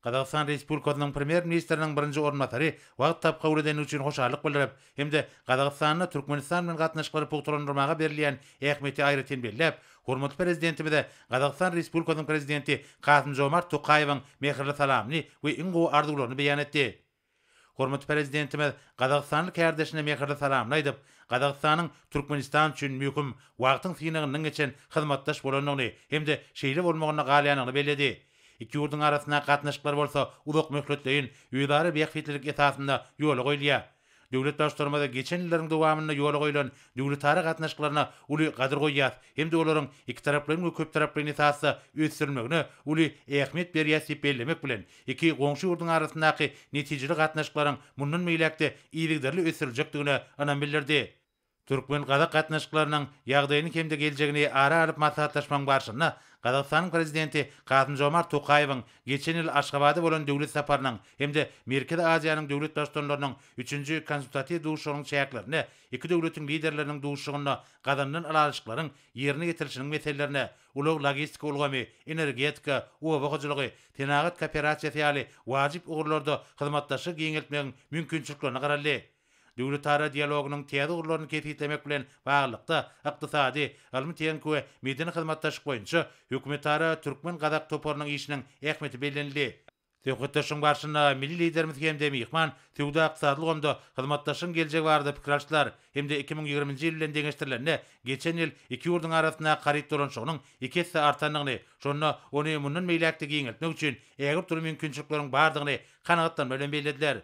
Gazagystan Respublikasynyň Premýer-ministriniň birinji orunbasary wagt tap kabul edeni üçin hoşallyk bildirip hem-de Gazagystanda Türkmenistan bilen gatnaşyklary pugtalandyrmaga berilýän ähmiýeti aýratyn belläp, hormatly Prezidentimize Gazagystan Respublikasynyň Prezidenti Kasym-Žomart Tokaýewiň mähirli salamyny we iň gowy arzuwlaryny beýan etdi. Hormatly Prezidentimiz gazagystanly kärdeşine mähirli salamyny aýdyp, Gazagystanyň Türkmenistan üçin möhüm wagtyň synagyndan geçen hyzmatdaş bolandygyny hem-de şeýle bolmagynda galýandygyny belledi. Iki ýurduň arasyndaky gatnaşyklar bolsa uzakmöhletleýin özara bähbitlilik esasynda ýola goýulýar. Döwlet Baştutanymyz geçen ýyllaryň dowamynda ýola goýlan döwletara gatnaşyklaryna uly gadyr goýýas hem-de olaryň ikitaraplaýyn we köptaraplaýyn esasda ösdürilmegine uly ähmiýet berýäs diýip bellemek bilen, iki goňşy ýurduň arasyndaky netijeli gatnaşyklaryň mundan beýläk-de yzygiderli ösdüriljekdigine ynam bildirdi. Türkmen-gazak gatnaşyklarynyň ýagdaýyny hem-de geljegini ara alyp maslahatlaşmagyň barşynda Gazagystanyň Prezidenti Kasym-Žomart Tokaýewiň geçen ýyl Aşgabada bolan döwlet saparynyň hem-de Merkezi Aziýanyň döwlet Baştutanlarynyň üçünji konsultatiw duşuşygynyň çäklerinde iki döwletiň liderleriniň duşuşygynda gazanylan ylalaşyklaryň ýerine ýetirilişiniň meselelerine ulag-logistika ulgamy, energetika, oba hojalygy, senagat kooperasiýasy ýaly wajyp ugurlarda hyzmatdaşlygy giňeltmegiň mümkinçiliklerine garaldy. Döwletara dialogynyň täze ugurlaryny kesgitlemek bilen baglylykda, ykdysady, ylmy-tehniki we medeni hyzmatdaşlyk boýunça hökümetara türkmen-gazak toparynyň işiniň ähmiýeti bellenildi. Söhbetdeşligiň barşynda milli Liderimiz hem-de myhman söwda-ykdysady ulgamda hyzmatdaşlygyň geljegi barada pikir alşdylar hem-de iki müň ýigriminji ýyl bilen deňeşdirilende, geçen ýyl iki ýurduň arasyndaky haryt dolanyşygynyň iki esse artandygyny, şonda ony mundan beýläk-de giňeltmek üçin ägirt uly mümkinçilikleriň bardygyny kanagatlanma bilen bellediler.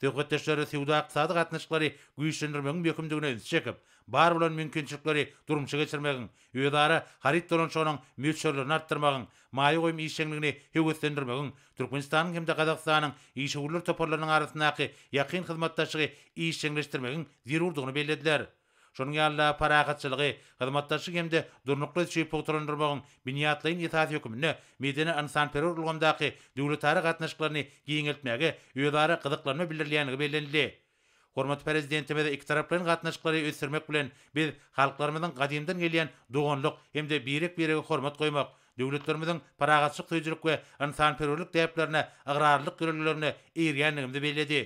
Söhbetdeşler söwda-ykdysady gatnaşyklary güýçlendirmegiň möhümdigine ünsi çekip, bar bolan mümkinçilikleri durmuşa geçirmegiň, özara haryt dolanyşygynyň möçberlerini artdyrmagyň, maýa goýum işjeňligini höweslendirmegiň, Türkmenistanyň hem-de Gazagystanyň işewürler toparlarynyň arasyndaky ýakyn hyzmatdaşlygy işjeňleşdirmegiň zerurdygyny bellediler. Şonuň ýaly-da parahatçylygy, hyzmatdaşlygy hem-de durnukly ösüşi pugtalandyrmagyň binýatlaýyn esasy hökmünde medeni-ynsanperwer ulgamdaky döwletara gatnaşyklaryny giňeltmäge özara gyzyklanma bildirilýändigi bellenildi. Hormatly Prezidentimiz ikitaraplaýyn gatnaşyklary ösdürmek bilen, biz halklarymyzyň gadymdan gelýän doganlyk hem-de birek-birege hormat goýmak, döwletlerimiziň parahatçylyk söýüjilik we ynsanperwerlik däplerine ygrarlylyk ýörelgelerine eýerýändigimizi belledi.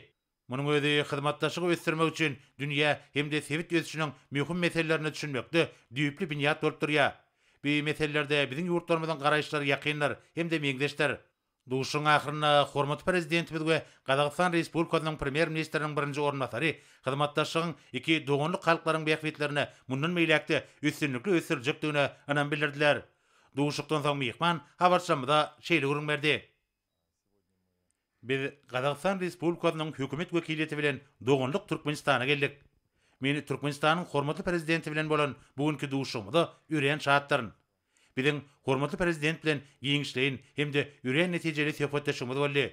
Munuň özi hyzmatdaşlygy ösdürmek üçin dünýä hem-de sebit ösüşiniň möhüm meselelerine düşünmekde düýpli binýat bolup durýar. Bu meselelerde biziň ýurtlarymyzyň garaýyşlary ýakyndyr hem-de meňzeşdir. Duşuşygyň ahyrynda hormatly Prezidentimiz we Gazagystan Respublikasynyň Premýer-ministriniň birinji orunbasary hyzmatdaşlygyň iki doganlyk halklaryň bähbitlerini mundan beýläk-de üstünlikli ösdürjekdigine ynam bildirdiler. Duşuşykdan soň myhman habarçymyza şeýle gürrüň berdi. Biz Gazagystan Respublikasynyň hökümet wekiliýeti bilen doganlyk Türkmenistana geldik. Men Türkmenistanyň hormatly Prezidenti bilen bolan bu günki duşuşygymyza örän şatdyryn. Biziň hormatly Prezident bilen giňişleýin hem-de örän netijeli söhbetdeşligimiz boldy.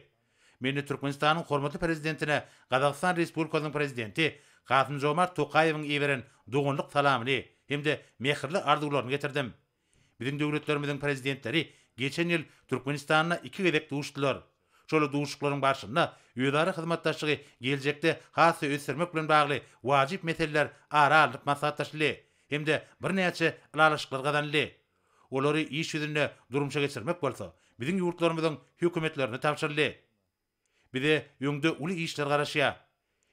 Men Türkmenistanyň hormatly Prezidentine Gazagystan Respublikasynyň Prezidenti Kasym-Žomart Tokaýewiň iberen doganlyk salamyny hem-de mähirli arzuwlaryny getirdim. Biziň döwletlerimiziň Prezidentleri geçen ýyl Türkmenistanda iki gezek duşdular. Şol duşuklaryň barşynda özara hyzmatdaşlygy geljekde has-da ösdürmek bilen bagly wajyp meseleler ara alnyp maslahatlaşyldy hem-de birnäçe ylalaşyklar gazanyldy. Olary iş ýüzünde durmuşa geçirmek bolsa biziň ýurtlarymyzyň Hökümetlerine tabşyryldy. Bize öňde uly işler garaşýar.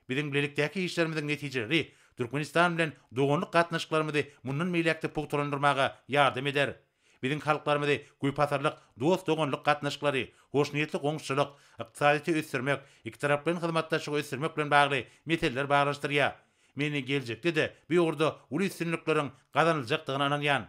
Biziň bilelikdäki işlerimiziň netijeleri Türkmenistan bilen doganlyk gatnaşyklarymyzy mundan beýläk-de pugtalandyrmaga ýardam eder. Biziň halklarymyzy köpasyrlyk dost-doganlyk gatnaşyklary, hoşniýetli goňşuçylyk, ykdysadyýeti ösdürmek, ikitaraplaýyn hyzmatdaşlygy ösdürmek bilen bagly meseleler baglanyşdyrýar. Men geljekde-de bu ugurda uly üstünlikleriň gazanyljakdygyna ynanýan.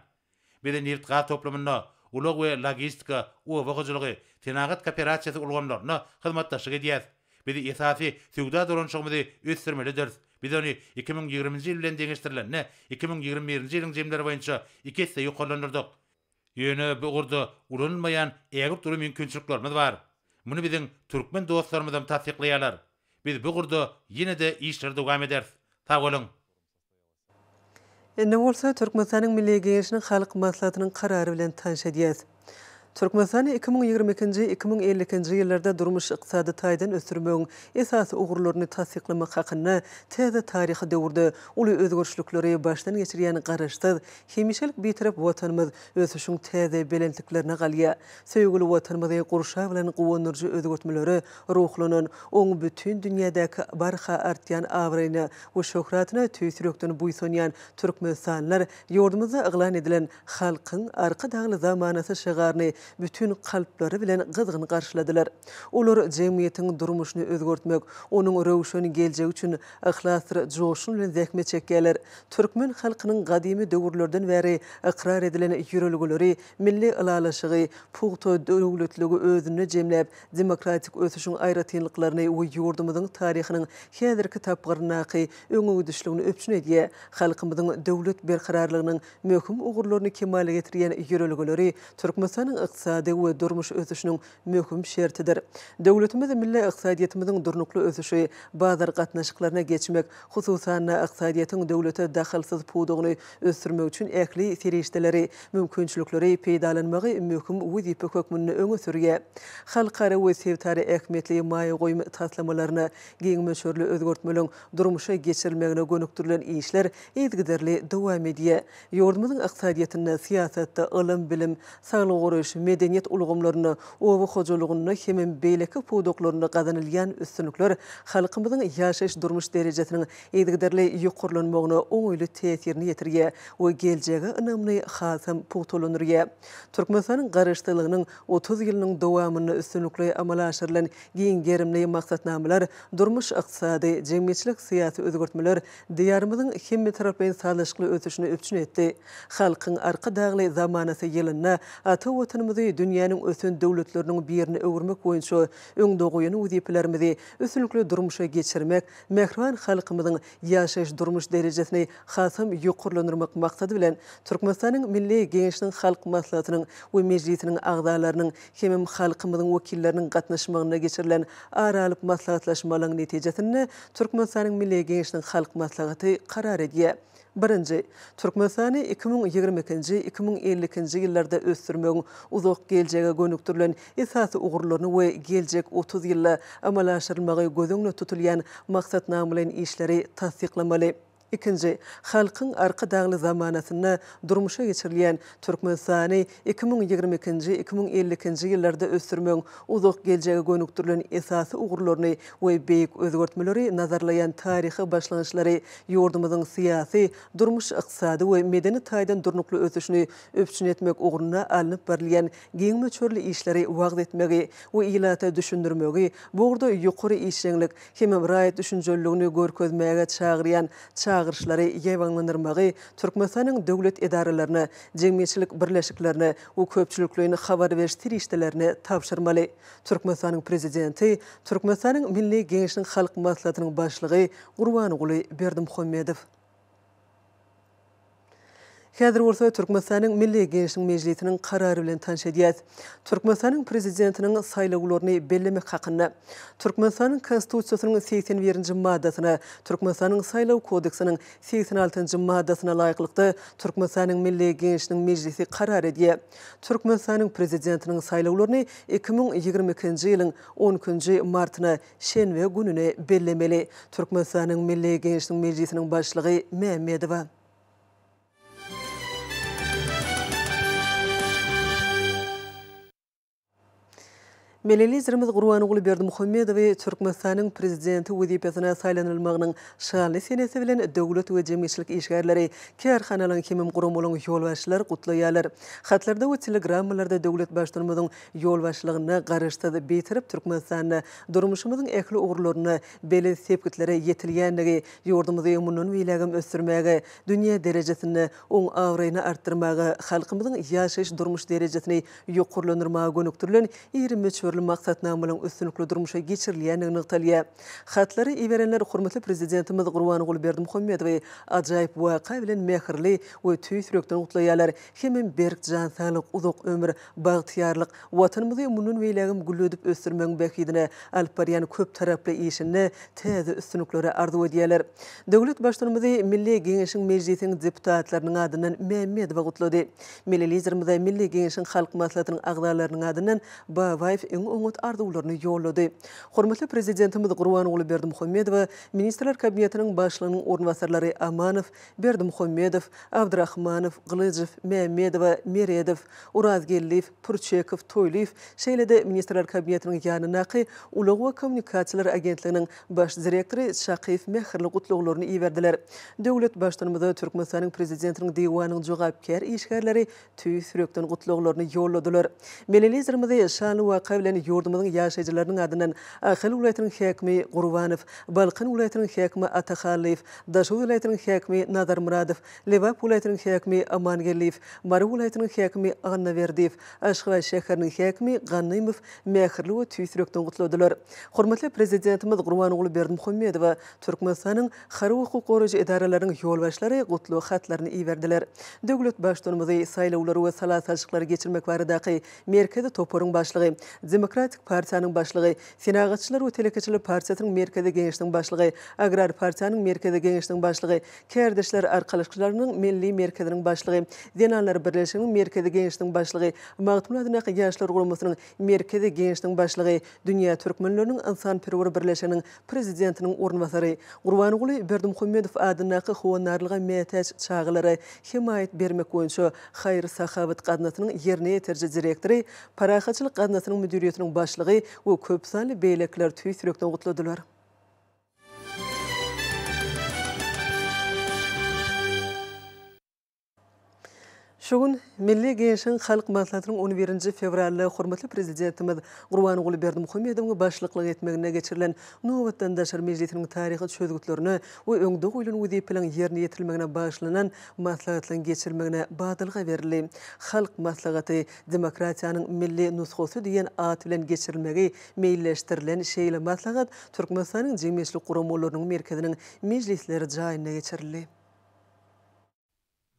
Bizi nebit-gaz toplumynda, ulag we logistika, oba hojalygy, senagat kooperasiýasy ulgamlarynda hyzmatdaşlyk edýäris. Biz esasy söwda dolanyşygymyzy ösdürmelidiris. Biz ony iki müň ýigriminji ýyl bilen deňeşdirilende, iki müň ýigrimi birinji ýylyň jemleri boýunça iki esse ýokarlandyrdyk. Ýöne bu ugurda ulanylmaýan ägirt uly mümkinçiliklerimiz bar. Muny biziň türkmen dostlarymyzam tassyklaýarlar. Biz bu ugurda ýene-de işleri dowam ederis. Sag boluň! Indi bolsa Türkmenistanyň Milli Geňeşiniň Halk Maslahatynyň karary bilen tanyş edýäs. Türkmenistany iki müň ýigrimi ikinji, iki müň elli ikinji ýyllarda durmuş-ykdysady taýdan ösdürmegiň esasy ugurlaryny tassyklamak hakynda täze taryhy döwürde uly özgerişlikleri başdan geçirýän Garaşsyz, hemişelik Bitarap Watanymyz ösüşiň täze belentliklerine galýar. Söýgüli Watanymyzy gurşaw bilen guwandyryjy özgertmelere ruhlanan, oň bütin dünýädäki barha artýan abraýyna we şöhratyna tüýs ýürekden buýsanýan türkmenistanlylar ýurdumyzda yglan edilen Halkyň Arkadagly zamanasy şygaryny bütin kalplary bilen gyzgyn garşyladylar. Olar jemgyýetiň durmuşyny özgertmek, onuň röwşen geljegi üçin yhlasdyr joşgun bilen zähmet çekýärler. Türkmen halkynyň gadymy döwürlerden bäri ykrar edilen ýörelgeleri Milli ylalaşygy, pugta döwletligi özünde jemläp, demokratik ösüşiň aýratynlyklaryny we ýurdumyzyň taryhynyň häzirki tapgyryndaky öňegidişligini üpjün edýär. Halkymyzyň döwlet berkararlygynyň möhüm ugurlaryny kemala getirýän ýörelgeleri Türkmenistanyň ykdysady we durmuş ösüşiniň möhüm şertidir. Döwletimiz milli ykdysadyýetimiziň durnukly ösüşi, bazar gatnaşyklaryna geçmek, hususan-da, ykdysadyýetiň döwlete dahylsyz pudagyny ösdürmek üçin ähli serişdeleri, mümkinçilikleri peýdalanmagy möhüm wezipe hökmünde öňe sürýär. Halkara we sebitara ähmiýetli maýa goýum taslamalaryna giň möçberli özgertmeleriň durmuşa geçirilmegine gönükdirilen işler yzygiderli dowam edýär. Ýurdumyzyň ykdysadyýetinde, syýasatda, ylym-bilim, saglygy goraýyş, medeniýet ulgamlarynda, oba hojalygynda hemem beýleki pudaklarynda gazanylýan üstünlikler halkymyzyň ýaşaýyş-durmuş derejesiniň yzygiderli ýokarlanmagyna oňaýly täsirini ýetirýär we geljege ynamyny hasam pugtalandyrýar. Türkmenistanyň Garaşsyzlygynyň otuz ýylynyň dowamynda üstünlikli amala aşyrylan giň gerimli maksatnamalar, durmuş-ykdysady, jemgyýetçilik-syýasy özgertmeler Diýarymyzyň hemmetaraplaýyn sazlaşykly ösüşini üpjün etdi. Halkyň Arkadagly zamanasy ýylynda ata Watanymyzy dünýäniň ösen döwletleriniň birine öwürmek boýunça öňde goýan wezipelerimizi üstünlikli durmuşa geçirmek, mähriban halkymyzyň ýaşaýyş-durmuş derejesini hasam ýokarlandyrmak maksady bilen, Türkmenistanyň Milli Geňeşiniň Halk Maslahatynyň we Mejlisiniň agzalarynyň hemem halkymyzyň wekilleriniň gatnaşmagynda geçirilen ara alyp maslahatlaşmalaryň netijesinde Türkmenistanyň Milli Geňeşiniň Halk Maslahaty karar edýär. Birinji. Türkmenistany iki müň ýigrimi ikinji, iki müň elli ikinji ýyllarda ösdürmegiň uzak geljege gönükdirilen esasy ugurlaryny we geljek otuz ýylda amala aşyrylmagy göz öňünde tutulýan maksatnamalaýyn işleri tassyklamaly. Ikinji, Halkyň Arkadagly zamanasynda durmuşa geçirilýän Türkmenistany iki müň ýigrimi ikinji, iki müň elli ikinji ýyllarda ösdürmegiň uzak geljege gönükdirilen esasy ugurlaryny we beýik özgertmeleri nazarlaýan taryhy başlangyçlary ýurdumyzyň syýasy, durmuş-ykdysady we medeni taýdan durnukly ösüşini üpjün etmek ugrunda alnyp barylýan giň möçberli işleri wagyz etmegi we ilata düşündirmegi bu ugurda ýokary işjeňlik hemem raýat düşünjeliligini görkezmäge çagyrýan çagyryşlary ýaýbaňlandyrmagy Türkmenistanyň döwlet edaralaryna, jemgyýetçilik birleşiklerine we köpçülikleýin habar beriş serişdelerine tabşyrmaly. Türkmenistanyň Prezidenti, Türkmenistanyň Milli Geňeşiniň Halk Maslahatynyň Başlygy Gurbanguly Berdimuhamedow. Häzir bolsa Türkmenistanyň Milli Geňeşiniň Mejlisiniň karary bilen tanyş edýäs. Türkmenistanyň Prezidentiniň saýlawlaryny bellemek hakynda. Türkmenistanyň Konstitusiýasynyň segsen birinji maddasyna, Türkmenistanyň Saýlaw kodeksiniň segsen altynjy maddasyna laýyklykda Türkmenistanyň Milli Geňeşiniň Mejlisi karar edýär. Türkmenistanyň Prezidentiniň saýlawlaryny iki müň ýigrimi ikinji ýylyň on ikinji martyna şenbe gününe bellemeli, Türkmenistanyň Milli Geňeşiniň Mejlisiniň Başlygy Mämmedowa. Milli Liderimiz Gurbanguly Berdimuhamedowy Türkmenistanyň Prezidenti wezipesine saýlanylmagynyň şanly senesi bilen döwlet we jemgyýetçilik işgärleri, kärhanalaryň hemem guramalaryň ýolbaşçylary gutlaýarlar. Hatlarda we telegrammalarda döwlet Baştutanymyzyň ýolbaşçylygynda Garaşsyz, Bitarap Türkmenistanda durmuşymyzyň ähli ugurlarynda belent sepgitlere ýetilýändigi ýurdumyzy mundan beýlägem ösdürmäge, dünýä derejesinde oň abraýyny artdyrmaga, halkymyzyň ýaşaýyş-durmuş derejesini ýokarlandyrmaga gönükdirilen iri möçberli maksatnamalaryň üstünlikli durmuşa geçirilýändigi nygtalýar. Hatlary iberenler hormatly Prezidentimiz Gurbanguly Berdimuhamedowy ajaýyp waka bilen mähirli we tüýs ýürekden gutlaýarlar hemem berk jan saglyk, uzak ömür, Bagtyýarlyk Watanymyzy mundan beýlägem gülledip ösdürmegiň bähbidine alyp barýan köptaraply işinde täze üstünlikleri arzuw edýärler. Döwlet Baştutanymyzy Milli Geňeşiň Mejlisiň deputatlarynyň adyndan Mämmedowa gutlady. Milli Liderimize Milli Geňeşiň Halk Maslahatynyň agzalarynyň adyndan Babaýew iň oňat arzuwlaryny ýollady. Hormatly Prezidentimiz Gurbanguly Berdimuhamedowa Ministrler Kabinetiniň Başlygynyň orunbasarlary Amanow, Berdimuhammedow, Abdrahmanow, Gylyjow, Mämmedowa, Meredow, Orazgeldiýew, Pürçekow, Toýlyýew, şeýle-de Ministrler Kabinetiniň ýanyndaky Ulag we kommunikasiýalar agentliginiň Baş direktory Çakyýew mähirli gutlaglaryny iberdiler. Döwlet Baştutanymyza Türkmenistanyň Prezidentiniň Diwanynyň jogapkär işgärleri tüýs ýürekden gutlaglaryny ýolladylar. Melelizrimizi şanly waka bilen ýurdumyzyň ýaşaýjylarynyň adyndan Ahal welaýatynyň häkimi Gurbanow, Balkan welaýatynyň häkimi Atahallyýew, Daşoguz welaýatynyň häkimi Nazarmyradow, Lebap welaýatynyň häkimi Amangeldiýew, Mary welaýatynyň häkimi Annaberdiýew, Aşgabat şäheriniň häkimi Gannymow mähirli we tüýs ýürekden gutladylar. Hormatly Prezidentimiz Gurbanguly Berdimuhamedowa Türkmenistanyň harby hukuk goraýjy edaralaryň ýolbaşçylary gutlag hatlaryny iberdiler. Döwlet Baştutanymyzy saýlawlary we sala salşyklary geçirmek baradaky Merkezi toparyň başlygy, Demokratik partiýanyň başlygy, Senagatçylar we telekeçiler partiýasynyň Merkezi geňeşiniň başlygy, Agrar partiýanyň Merkezi geňeşiniň başlygy, Kärdeşler arkalaşykçylarynyň Milli merkeziniň başlygy, Zenanlar birleşiginiň Merkezi geňeşiniň başlygy, Magtymguly adyndaky Ýaşlar guramasynyň Merkezi geňeşiniň başlygy, Dünýä türkmenleriniň ynsanperwer birleşiginiň Prezidentiniň orunbasary Gurbanguly Berdimuhamedow adyndaky Howandarlyga mätäç çagalara hemaýat bermek boýunça haýyr-sahawat gaznasynyň ýerine ýetiriji direktory, Parahatçylyk gaznasynyň müdiriýetiniň başlygy we köp sanly beýlekiler tüýs ýürekden gutladylar. Şu gün Milli Geňeşiň Halk Maslahatynyň on birinji fewralda hormatly Prezidentimiz Gurbanguly Berdimuhamedowyň başlyklyk etmeginde geçirilen nobatdan daşary mejlisiniň taryhy çözgütlerine we öňde goýlan wezipeleriň ýerine ýetirilmegine bagyşlanan maslahatynyň geçirilmegine badalga berildi. Halk Maslahaty, demokratiýanyň milli nusgasy diýen at bilen geçirilmegi meýilleşdirilen şeýle maslahat Türkmenistanyň jemgyýetçilik guramalarynyň merkeziniň mejlisler jaýynda geçirildi.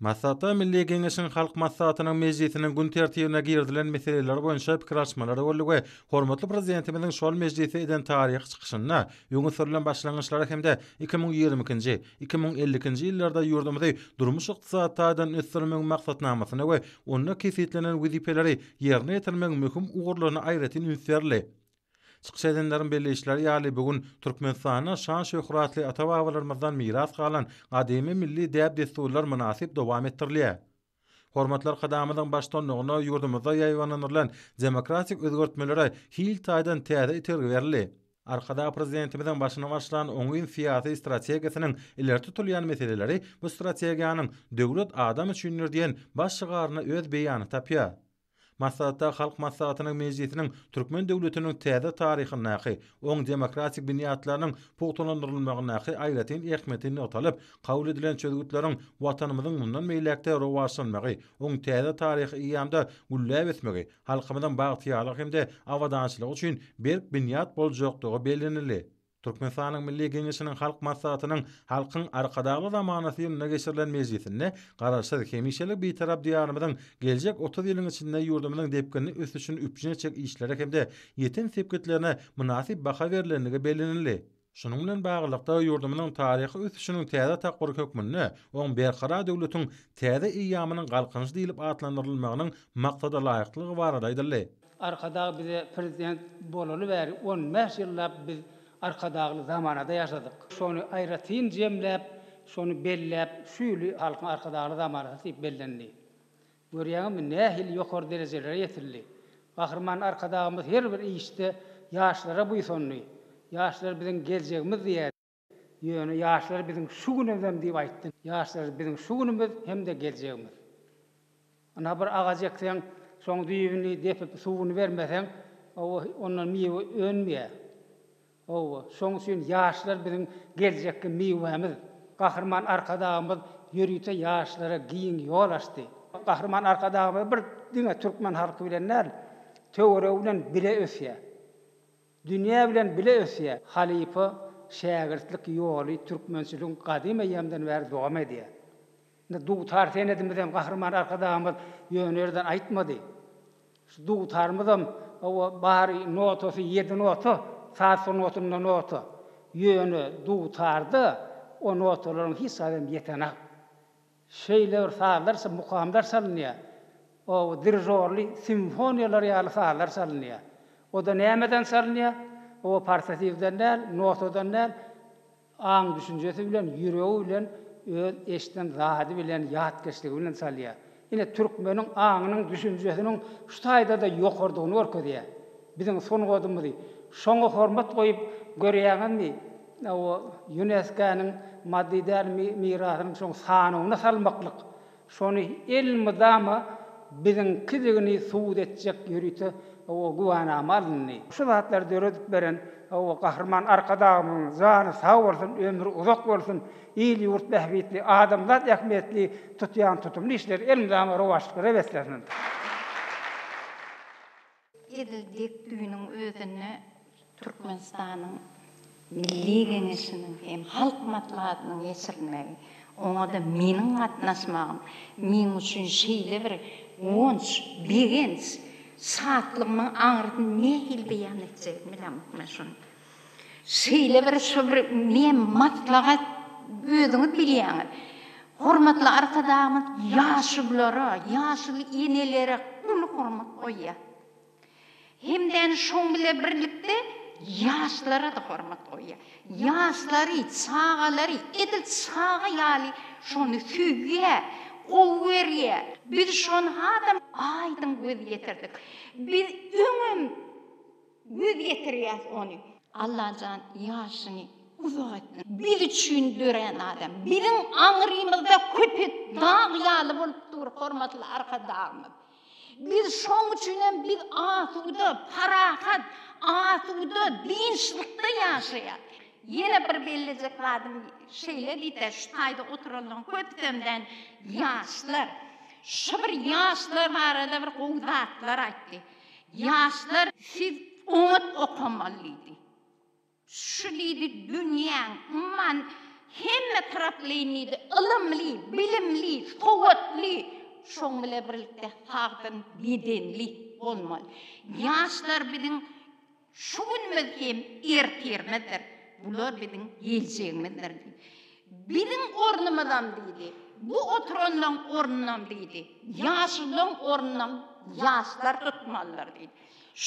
Maslahata Milli Geňeşiň Halk Maslahatynyň mejlisiniň gün tertibine girizilen meseleler boýunça pikir alyşmalar boldy we hormatly Prezidentimiziň şol mejlisde eden taryhy çykyşynda öňe sürlen başlangyçlara hem-de iki müň ýigrimi ikinji, iki müň elli ikinji ýyllarda ýurdumyzy durmuş-ykdysady taýdan ösdürmegiň maksatnamasyny we onda kesgitlenen wezipeleri ýerine ýetirmegiň möhüm ugurlaryna aýratyn üns berildi. Çykyş edenleriň belleýişleri ýaly, bu gün Türkmenistanda şan-şöhratly ata-babalarymyzdan miras galan gadymy milli däp-dessurlar mynasyp dowam etdirilýär. Hormatly Arkadagymyzyň baştutanlygynda ýurdumyzda ýaýbaňlandyrylan demokratik özgertmelere hil taýdan täze itergi berildi. Arkadag Prezidentimiziň başyny başlan oňyn syýasy strategiýasynyň ileri tutulýan meseleleri bu strategiýanyň Döwlet adam üçindir! diýen baş şygaryna öz beýanyny tapýar. Maslahatda Halk Maslahatynyň mejlisiniň türkmen döwletiniň täze taryhyndaky oň demokratik binýatlarynyň pugtalandyrylmagyndaky aýratyn ähmiýeti nygtalyp, kabul edilen çözgütleriň Watanymyzyň mundan beýläk-de rowaçlanmagy, oň täze taryhy eýýamda gülläp ösmegi, halkymyzyň bagtyýarlygy hem-de abadançylygy üçin berk binýat boljakdygy bellenildi. Türkmenistanyň Milli Geňeşiniň Halk Maslahatynyň Halkyň Arkadagly zamanasy ýylynda geçirilen mejlisinde Garaşsyz, hemişelik Bitarap Diýarymyzyň geljek otuz ýylyň içinde ýurdumyzyň depginli ösüşini üpjün etjek işlere hem-de ýeten sepgitlerine mynasyp baha berlendigi bellenildi. Şunuň bilen baglylykda, ýurdumyzyň taryhy ösüşiniň täze tapgyry hökmünde oň Berkarar döwletiň täze eýýamynyň Galkynyşy diýlip atlandyrylmagynyň maksadalaýyklygy barada aýdyldy. Arkadag bize prezident bolaly bäri on bäş ýyllap biz Arkadagly zamanada ýaşadyk. Şony aýratyn jemläp, şony belläp, şu ýyly Halkyň Arkadagly zamanasy diýip bellendi. Görýäňizmi, nähili ýokary derejelere ýetildi. Gahryman Arkadagymyz her bir işde ýaşlara buýsandy. Ýaşlar biziň geljegimiz diýýärdi. Ýöne ýaşlar biziň şu günümizem diýip aýtdy. Ýaşlar biziň şu günümiz hem-de geljegimiz. Ynha bir agaç ekseň, şoň düýbüni depip, suwuny bermeseň, hawa, ondan miwe önmeýär. Hawa, şoň üçin ýaşlar biziň geljekki miwämiz. Gahryman Arkadagymyz ýörite ýaşlara giň ýol açdy. Gahryman Arkadagymyz bir diňe türkmen halky bilen däl, töweregi bilen bile ösýär. Dünýä bilen bile ösýär. Halypa, şägirtlik ýoly türkmençiligiň gadym eýýamdan bäri dowam edýär. Indi dutar senedimizem Gahryman Arkadagymyz ýöne ýerden aýtmady. Şu dutarymyzam, hawa, bary notasy ýedi nota, saz sungatynda nota. Ýöne dutarda o notalaryň hiç zadam ýetenak. Şeýle bir sazlar, mukamlar çalynýar. O, dirižorly simfoniýalar ýaly sazlar çalynýar. O-da nämeden çalynýar? O, portatiwden däl, notadan däl, aň-düşünjesi bilen, ýüregi bilen, öz eşiden zady bilen, ýatkeşligi bilen çalýar. Ine, türkmeniň aňynyň, düşünjesiniň şu taýda-da ýokarydygyny görkezýär. Biziň sungadymyzy şoňa hormat goýup görýäňizmi? O Ýuneskäniň maddy däl mirasynyň şoň sanawyna salmaklyk, şony elmydama biziňkidigini subut etjek ýörite güwänama alyndy. Şu zatlary döredip beren Gahryman Arkadagymyzyň jany sag bolsun, ömri uzak bolsun, il-ýurt bähbitli, adamzat ähmiýetli tutýan tutumly işleri elmydama rowaçlyklara beslensin! Edil dek düýnüň özünde Türkmenistanyň Milli Geňeşiniň hem Halk Maslahatynyň geçirilmegi, oňa-da meniň gatnaşmagym meň üçin şeýle bir guwanç, begenç, şatlygymyň aňrysyny nähili beýan etjegimi bilemok men şuny. Şeýle bir şu bir ne maslahat özüňiz bilýäňiz. Hormatly Arkadagymyz ýaşulylara, ýaşuly enelere uly hormat goýýar. Hemdän şoň bile birlikde ýaşlara-da hormat goýýar. Ýaşlary, çagalary edil çaga ýaly şony söýýär, gowy görýär. Biz şony hasam aýdyň göz ýetirdik. Biz öňem. Göz ýetirýäs ony. Allajan ýaşyny uzak etsin. Biz üçin dörän adam. Biziň aňrymyzda köpet dag ýaly bolup dur hormatly Arkadagymyz. Biz şoň üçin hem biz asuda, parahat, asuda, dynçlykda ýaşaýas. Ýene bir bellejek zadym şeýle diýse, şu taýda oturanlaryň köpüsem däl, ýaşlar. Şu bir ýaşlar barada bir gowy zatlar aýtdy. Ýaşlar siz oňat okamalydy. Şu diýdi dünýäň umman hemme taraplaýyn diýdi ylymly, bilimli, sowatly, şoň bilen birlikde sagdyn bedenli bolmaly. Ýaşlar biziň Şu günümiz hem ertirimizdir. Bular biziň geljegimizdir diýdi. Biziň ornumyzam diýdi, bu oturanlaryň ornunam diýdi, ýaşlylaryň ornunam ýaşlar tutmalydyr diýdi.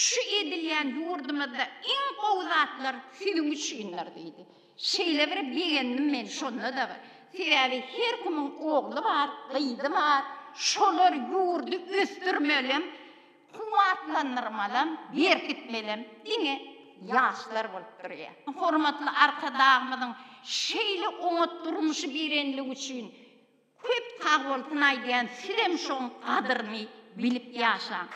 Şu edilýän ýurdumyzda iň gowy zatlar siziň üçindir diýdi. Şeýle bir begendim men şonda-da. Sebäbi her kimiň ogly bar, gyzy bar. Şolar ýurdy ösdürmelem. Kuwwatlandyrmalem, berkitmelem diňe ýaşlar bolup durýar. Hormatly Arkadagymyzyň şeýle oňat durmuşy berenligi üçin köp sagbolsun aýdýan, sizem şoň gadyryny bilip ýaşaň.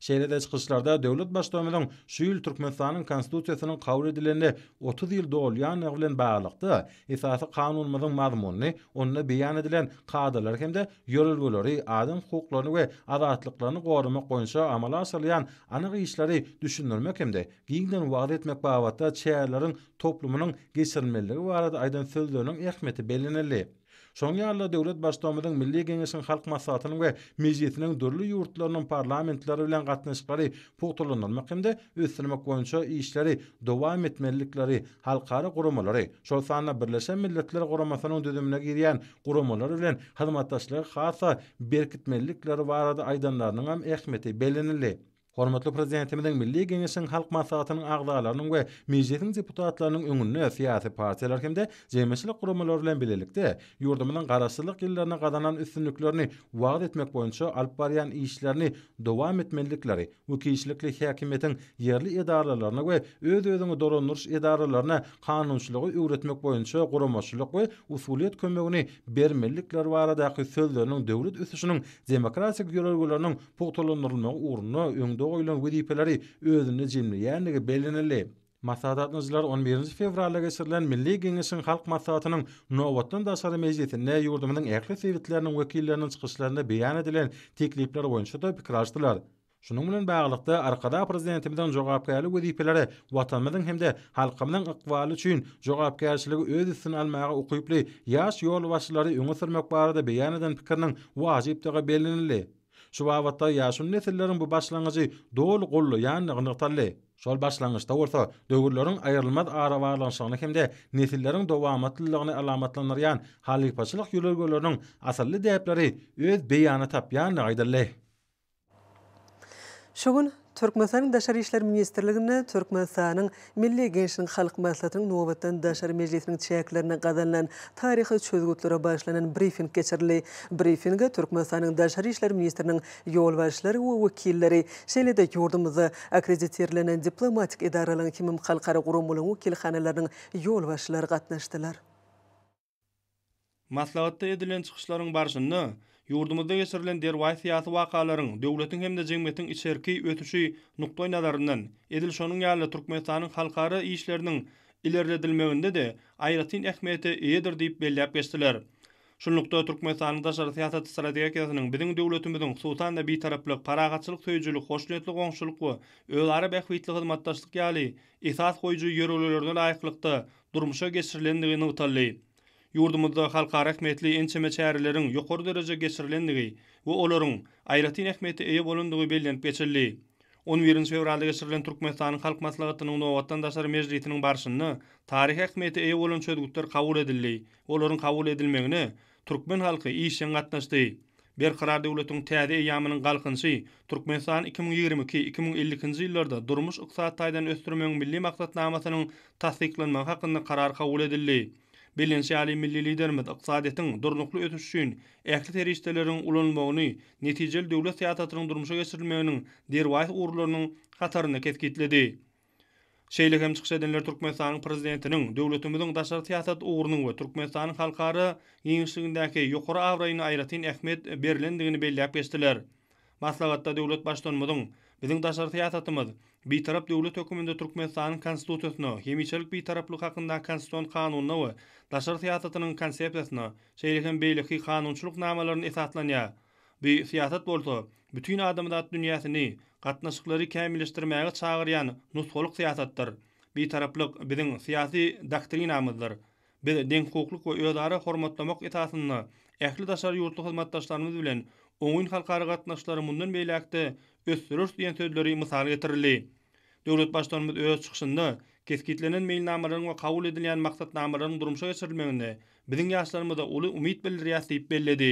Şeýle-de çykyşlarda döwlet Baştutanymyzyň şu ýyl Türkmenistanyň Konstitusiýasynyň kabul edilenine otuz ýyl dolýandygy bilen baglylykda, Esasy Kanunymyzyň mazmunyny, onda beýan edilen kadalary hem-de ýörelgeleri, adam hukuklaryny we azatlyklaryny goramak boýunça amala aşyrylýan anyk işleri düşündirmek hem-de giňden wagyz etmek babatda çäreleriň toplumynyň geçirilmelidigi barada aýdan sözleriniň ähmiýeti bellenildi. Şoň ýaly-da döwlet Baştugumyzyň Milli Geňeşiň Halk Maslahatynyň we Mejlisiniň dürli ýurtlarynyň parlamentleri bilen gatnaşyklary pugtalandyrmak hem-de ösdürmek boýunça işleri dowam etmelilikleri, halkara guramalary, şol sanda Birleşen Milletler Guramasynyň düzümine girýän guramalary bilen hyzmatdaşlygy has-da berkitmelilikleri barada aýdanlarynyňam ähmiýeti bellenildi. Hormatly Prezidentimiziň Milli Geňeşiň Halk Maslahatynyň agzalarynyň we Mejlisiň deputatlarynyň öňünde syýasy partiýalar hem-de jemgyýetçilik guramalary bilen bilelikde ýurdumyzyň Garaşsyzlyk ýyllarynda gazanan üstünliklerini wagyz etmek boýunça alyp barýan işlerini dowam etmelilikleri we kişilikli häkimiýetiň ýerli edaralaryna we öz-özüňi dolandyryş edaralaryna kanunçylygy öwretmek boýunça guramaçylyk we usulyýet kömegini bermelilikleri baradaky sözleriniň döwlet ösüşiniň demokratik ýörelgeleriniň pugtalandyrylmagy ugrunda öňde goýlan wezipeleri özünde jemleýändigi bellenildi. Maslahat gatnaşyjylary on birinji fewralda geçirilen Milli Geňeşiň Halk Maslahatynyň nobatdan daşary mejlisinde ýurdumyzyň ähli sebitleriniň wekilleriniň çykyşlarynda beýan edilen teklipler boýunça-da pikir alşdylar. Şunuň bilen baglylykda, Arkadag Prezidentimiziň jogapkärli wezipeleri Watanymyzyň hem-de halkymyzyň ykbaly üçin jogapkärçiligi öz üstüne almaga ukyply ýaş ýolbaşçylary öňe sürmek barada beýan eden pikiriniň wajypdygy bellenildi. Şu babatda ýaşuly nesilleriň bu başlangyjy doly gollaýandygy nygtaldy. Şol başlangyçda bolsa döwürleriň aýrylmaz arabaglanyşygyny hem-de nesilleriň dowamatlylygyny alamatlandyrýan halypaçylyk ýörelgeleriniň asylly däpleri öz beýanyny tapýandygy aýdyldy. Şu gün Türkmenistanyň Daşary işler ministrliginde Türkmenistanyň Milli Geňeşiniň Halk Maslahatynyň nobatdan daşary mejlisiniň çäklerinde gazanylan taryhy çözgütlere bagyşlanan brifing geçirildi. Brifinge Türkmenistanyň Daşary işler ministriniň ýolbaşçylary we wekilleri, şeýle-de ýurdumyzda akkreditirlenen diplomatik edaralaryň hemem halkara guramalaryň wekilhanalarynyň ýolbaşçylary gatnaşdylar. Maslahatda edilen çykyşlaryň barşynda ýurdumyzda geçirilen derwaýys syýasy wakalaryň döwletiň hem-de jemgyýetiň içerki ösüşi nukdaýnazaryndan, edil şonuň ýaly Türkmenistanyň halkara işleriniň ilerledilmeginde-de aýratyn ähmiýete eýedir diýip belläp geçdiler. Şunlukda, Türkmenistanyň daşary syýasat strategiýasynyň biziň döwletimiziň, hususan-da, bitaraplyk, parahatçylyk söýüjilik, hoşniýetli goňşuçylyk we özara bähbitli hyzmatdaşlyk ýaly esas goýujy ýörelgelerine laýyklykda, durmuşa geçirilendigi nygtaldy. Ýurdumyzda halkara ähmiýetli ençeme çäreleriň ýokary derejede geçirilendigi we olaryň aýratyn ähmiýete eýe bolandygy bellenip geçildi. On birinji fewralda geçirilen Türkmenistanyň Halk Maslahatynyň nobatdan daşary mejlisiniň barşynda taryhy ähmiýete eýe bolan çözgütler kabul edildi we olaryň kabul edilmegine Türkmen halky işjeň gatnaşdy. Berkarar döwletiň täze eýýamynyň Galkynyşy Türkmenistany iki müň ýigrimi iki, iki müň ellikinji ýyllarda durmuş-ykdysady taýdan ösdürmegiň Milli maksatnamasynyň tassyklanmagy hakynda Karar kabul edildi. Bellenişi ýaly, milli Liderimiz ykdysadyýetiň durnukly ösüşi üçin ähli serişdeleriň ulanylmagyny netijeli döwlet syýasatynyň durmuşa geçirilmeginiň derwaýys ugurlarynyň hatarynda kesgitledi. Şeýle hem çykyş edenler Türkmenistanyň Prezidentiniň döwletimiziň daşary syýasat ugrunyň we Türkmenistanyň halkara giňişligindäki ýokary abraýyna aýratyn ähmiýet berlendigini belläp geçdiler. Maslahatda döwlet Baştutanymyzyň, Biziň daşary syýasatymyz Bitarap döwlet höküminde Türkmenistanyň Konstitusiýasyna, Hemişelik Bitaraplyk hakyndaky Konstitusion Kanunyna we daşary syýasatynyň Konsepsiýasyna, şeýle hem beýleki kanunçylyk namalaryna esaslanýar. Bu syýasat bolsa, bütin adamzat dünýäsini, gatnaşyklary kämilleşdirmäge çagyrýan nusgalyk syýasatdyr. Bitaraplyk biziň syýasy doktrinamyzdyr. Biz deňhukuklyk we özara hormatlamak esasynda ähli daşary ýurtly hyzmatdaşlarymyz bilen oňyn halkara gatnaşyklary mundan beýläk-de ösdüreris diýen sözleri mysal getirildi. Döwlet Baştutanymyz öz çykyşynda kesgitlenen meýilnamalaryň we kabul edilýän maksatnamalaryň durmuşa geçirilmeginde biziň ýaşlarymyza uly umyt bildirýär diýip belledi.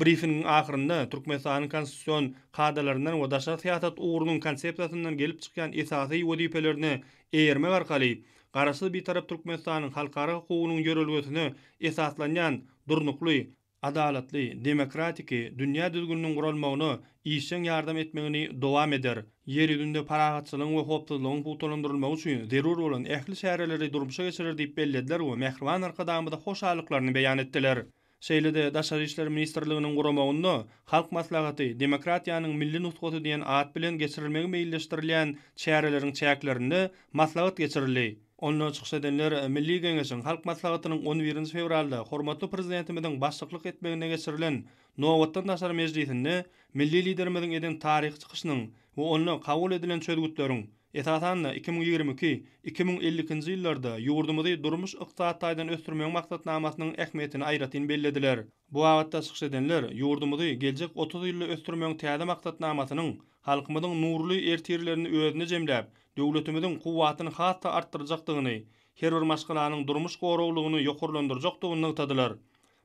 Brifingiň ahyrynda Türkmenistanyň konstitusion kadalaryndan we daşary syýasat ugrunyň konsepsiýasyndan gelip çykýan esasy wezipelerine eýermek arkaly Garaşsyz, Bitarap Türkmenistanyň halkara hukugynyň ýörelgesine esaslanýan durnukly, adalatly, demokratiki dünýä düzgüniniň guralmagyna işjeň ýardam etmegini dowam eder, Ýer ýüzünde parahatçylygyň we howpsuzlygyň pugtalandyrylmagy üçin zerur bolan ähli çäreleri durmuşa geçirer diýip bellediler we mähriban Arkadagymyza hoşallyklaryny beýan etdiler. Şeýle-de Daşary işler ministrliginiň guramagynda Halk Maslahaty, demokratiýanyň milli nusgasy diýen at bilen geçirilmegi meýilleşdirilýän çäreleriň çäklerinde maslahat geçirildi. Onda çykyş edenler Milli Geňeşiň Halk Maslahatynyň on birinji fewralda hormatly Prezidentimiziň başlyklyk etmeginde geçirilen Nobatdan daşary mejlisinde milli Liderimiziň eden taryhy çykyşynyň we onda kabul edilen çözgütleriň, esasan-da, iki müň ýigrimi iki, iki müň elli ikinji ýyllarda ýurdumyzy durmuş-ykdysady taýdan ösdürmegiň maksatnamasynyň ähmiýetini aýratyn bellediler. Bu babatda çykyş edenler ýurdumyzy geljek otuz ýylda ösdürmegiň täze maksatnamasynyň halkymyzyň nurly ertirlerini özünde jemläp, döwletimiziň kuwwatyny has-da artdyrjakdygyny, her bir maşgalanyň durmuş goraglylygyny ýokarlandyrjakdygyny nygtadylar.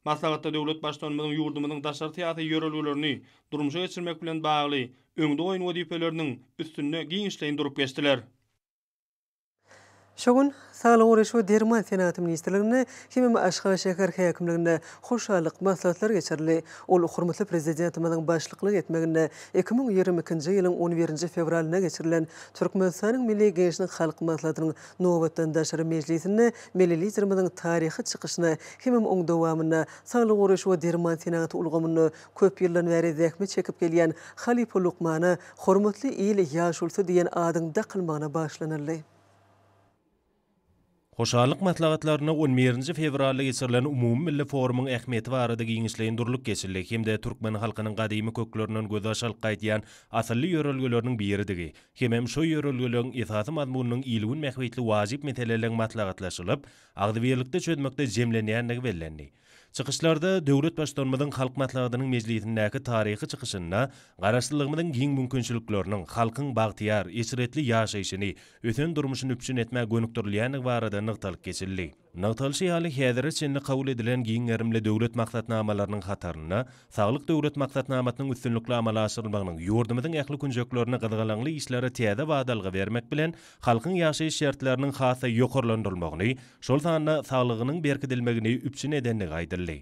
Maslahatda döwlet Baştutanymyzyň ýurdumyzyň daşary syýasy ýörelgelerini durmuşa geçirmek bilen bagly öňde goýan wezipeleriniň üstünde giňişleýin durup geçdiler. Şu gün Saglygy goraýyş we derman senagaty ministrliginde hemem Aşgabat şäher häkimliginde hoşallyk maslahatlary geçirildi. Ol hormatly Prezidentimiziň başlyklyk etmeginde iki müň ýigrimi ikinji ýylyň on birinji fewralyna geçirilen Türkmenistanyň Milli Geňeşiniň Halk Maslahatynyň Nobatdan daşary mejlisinde Milli Liderimiziň taryhy çykyşyna hemem oň dowamynda saglygy goraýyş we derman senagaty ulgamynda köp ýyldan bäri zähmet çekip gelýän halypa lukmana Hormatly il ýaşulysy diýen adyň dakylmagyna bagyşlanyldy. Hoşallyk maslahatlarynda on birinji fewralda geçirilen umumymilli forumyň ähmiýeti barada giňişleýin durlup geçildi hem-de türkmen halkynyň gadymy köklerinden gözbaş alyp gaýdýan asylly ýörelgeleriniň biridigi, Hemem şo ýörelgeleriň esasy mazmunynyň il-gün bähbitli wajyp meseleleriň maslahatlaşylyp, agzybirlikde çözmekde jemlenýändigi bellendi. Çykyşlarda döwlet Baştutanymyzyň Halk Maslahatynyň mejlisindäki taryhy çykyşynda Garaşsyzlygymyzyň giň mümkinçilikleriniň halkyň bagtyýar, eşretli ýaşaýşyny, ösen durmuşyny üpjün etmä gönükdirilýändigi barada nygtalyp geçildi. Nygtalyşy ýaly, häzire çenli kabul edilen giň gerimli döwlet maksatnamalarynyň hatarynda Saglyk Döwlet maksatnamasynyň üstünlikli amala aşyrylmagynyň ýurdumyzyň ähli künjeklerinde gyzgalaňly işlere täze badalga bermek bilen, halkyň ýaşaýyş şertleriniň has-da ýokarlandyrylmagyny, şol sanda saglygynyň berkidilmegini üpjün edendigi aýdyldy.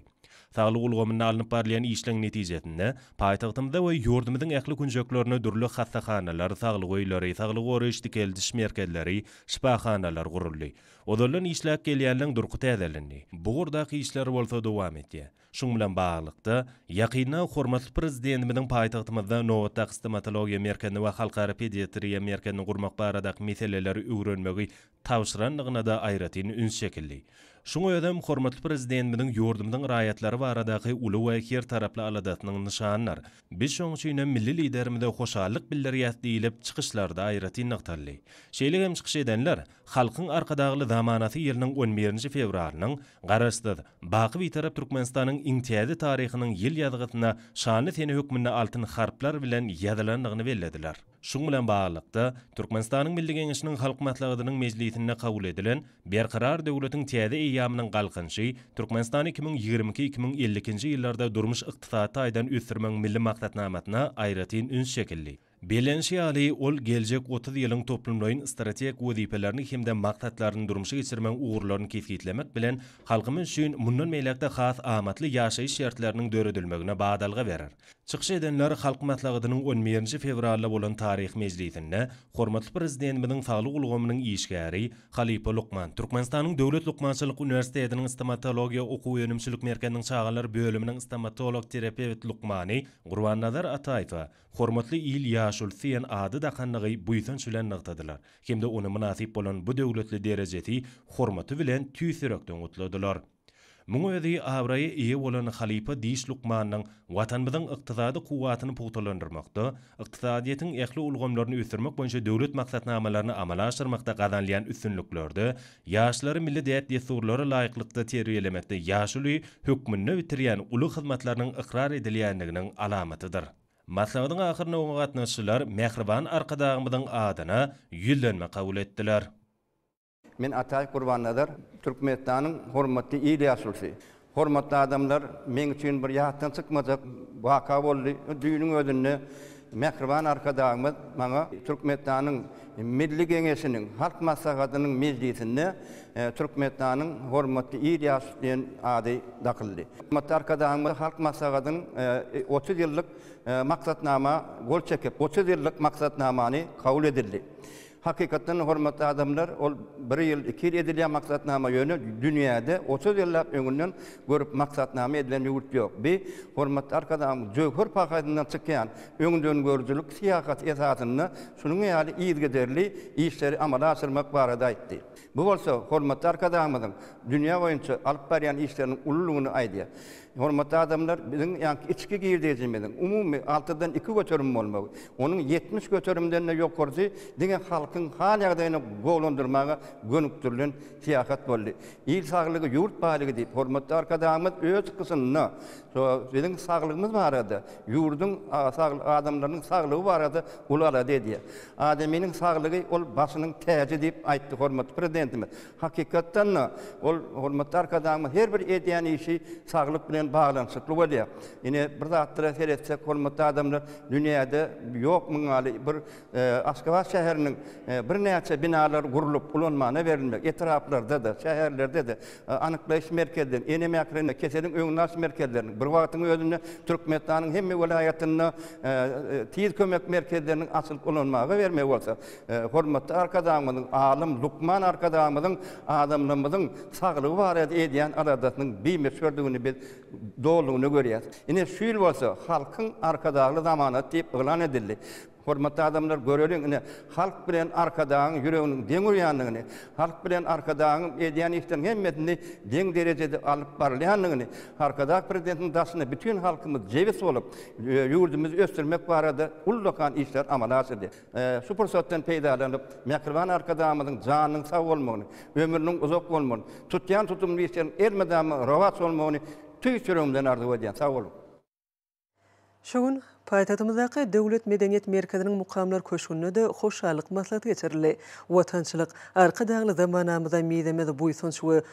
Saglyk ulgamynda alnyp barylýan işleň netijesinde, paýtagtymyzda we ýurdumyzyň ähli künjeklerinde dürli hassahanalar, saglyk öýleri, saglygy goraýyş-dikeldiş merkezleri, şypahanalar guruldy. Ozaldan işläp gelýänleň durky täzelendi. Bu ugurdaky işler bolsa dowam edýär. Şuň bilen baglylykda, ýakynda hormatly Prezidentimiziň paýtagtymyzda nobatdaky stomatologiýa merkezini we halkara pediatriýa merkezini gurmak baradaky meseleleri öwrenmegi tabşyrandygyna-da aýratyn üns çekildi. Şuň özem hormatly Prezidentimiziň ýurdumyzyň raýatlary baradaky uly we her taraply aladasynyň nyşanydyr. Biz şoň üçinem milli Liderimize hoşallyk bildirýäs diýlip, çykyşlarda aýratyn nygtaldy. Şeýle hem çykyş edenler, Halkyň Arkadagly zamanasy ýylynyň on birinji fewralynyň Garaşsyz, baky Bitarap Türkmenistanyň iň täze taryhynyň ýyl ýazgysyna şanly sene hökmünde altyn harplar bilen ýazylandygyny bellediler. Şuň bilen baglylykda, Türkmenistanyň Milli Geňeşiniň Halk Maslahatynyň mejlisinde kabul edilen Berkarar döwletiň täze eýýamynyň Galkynyşy, Türkmenistany iki müň ýigrimi iki, iki müň elli ikinji ýyllarda durmuş-ykdysady taýdan ösdürmegiň milli maksatnamasyna aýratyn üns çekildi. Bellenişi ýaly, ol geljek otuz ýylyň toplumlaýyn strategik wezipelerini hem-de maksatlaryny durmuşa geçirmegiň ugurlaryny kesgitlemek bilen, halkymyz üçin mundan beýläk-de has amatly ýaşaýyş şertleriniň döredilmegine badalga berer. Çykyş edenler Halk Maslahatynyň on birinji fewralda bolan taryhy mejlisinde hormatly Prezidentimiziň saglyk ulgamynyň işgäri, halypa lukman, Türkmenistanyň Döwlet lukmançylyk uniwersitetiniň Stomatologiýa okuw-önümçilik merkeziniň çagalar bölüminiň stomatolog-terapewt lukmany Gurbannazar Ataýewe, Hormatly il ýaşuly diýen ady dakanlygy buýsanç bilen nygtadylar hem-de ony mynasyp bolan bu döwletli derejesi, hormaty bilen tüýs ýürekden gutladylar. Muň özi abraýa eýe bolan halypa diş lukmanynyň Watanymyzyň ykdysady kuwwatyny pugtalandyrmakda, ykdysadyýetiň ähli ulgamlaryny ösdürmek boýunça döwlet maksatnamalaryny amala aşyrmakda gazanylýan üstünliklerde Ýaşlary milli däp-dessurlara laýyklykda terbiýelemekde ýaşuly hökmünde bitirýän uly hyzmatlarynyň ykrar edilýändiginiň alamatydyr. Maslahatyň ahyrynda oňa gatnaşyjylar mähriban Arkadagymyzyň adyna Ýüzlenme kabul etdiler. Men Ataýew Gurbannazar, Türkmenistanyň hormatly il ýaşulysy. Hormatly adamlar, meň üçin bir ýatdan çykmajak waka boldy. Düýnüň özünde mähriban Arkadagymyz maňa Türkmenistanyň Milli Geňeşiniň Halk Maslahatynyň mejlisinde Türkmenistanyň hormatly ir ýaşy diýen ady dakyldy. Hormatly Arkadagymyz Halk Maslahatynyň otuz ýyllyk maksatnama gol çekip, otuz ýyllyk maksatnamany kabul edildi. Hakykatdan-da, hormatly adamlar, ol bir ýyl, iki ýyl edilýän maksatnama, ýöne dünýäde otuz ýyllap öňünden görüp maksatnama edilen ýurt ýok. Bi, hormatly Arkadagymyz jöwher paýhasyndan çykýan öňdengörüjilik syýasaty esasynda şunuň ýaly yzygiderli işleri amala aşyrmak barada aýtdy. Bu bolsa hormatly Arkadagymyzyň dünýä boýunça alyp barýan işleriniň ululygyny aýdýar. Hormatly adamlar, biziň ýaňky içki girdeýjimiziň umumy altydan iki göterim bolmagy, onuň ýetmiş göterimden-de ýokarsy diňe halkyň hal-ýagdaýyny gowulandyrmaga gönükdirilen syýasat boldy. Il saglygy, ýurt baýlygy diýip, hormatly Arkadagymyz öz çykyşynda şu biziň saglygymyz barada, ýurduň adamlarynyň saglygy barada uly alada edýär. Adamynyň saglygy, ol başynyň täji diýip aýtdy hormatly Prezidentimiz. Hakykatdan-da, ol hormatly Arkadagymyz her bir edýän işi saglyk bilen baglanyşykly bolýar. Ine, bir zatlara seretsek, hormatly adamlar, dünýäde ýok muň ýaly bir Aşgabat şäheriniň birnäçe binalary gurlup, ulanmana berilmek, etraplarda-da, şäherlerde-de anyklaýyş merkezleri, enem ähline keseliň öňüni alyş merkezleriniň, bir wagtyň özünde Türkmenistanyň hemme welaýatynda tiz kömek merkezleriniň açylyp ulanmaga bermegi bolsa, Hormatly Arkadagymyzyň, alym, lukman Arkadagymyzyň adamlarymyzyň saglygy barada edýän aladasynyň bimöçberdigini biz dolulygyna görýäris. Ine, şu ýyl bolsa Halkyň Arkadagly zamanasy diýip yglan edildi. Hormatly adamlar, göreliň, ine, halk bilen Arkadagyň ýüreginiň deň urýandygyny, halk bilen Arkadagyň edýän işleriniň hemmesini deň derejede alyp barylýandygyny, Arkadag Prezidentiniň daşyna bütin halkymyz jebis bolup, ýurdumyzy ösdürmek barada ullakan işleri amala aşyrdy. Şu pursatdan peýdalanyp, mähriban Arkadagymyzyň janynyň sag bolmagyny, ömrüniň uzak bolmagyny, tutýan tutumly işleriň elmydama rowaç bolmagyny tüýs ýüregimden arzuw edýän. Sag boluň! Şu gün paýtagtymyzdaky Döwlet medeniýet merkeziniň Mukamlar köşgünde-de hoşallyk maslahaty geçirildi. Watançylyk, Arkadagly zamanamyza mizemez buýsanç we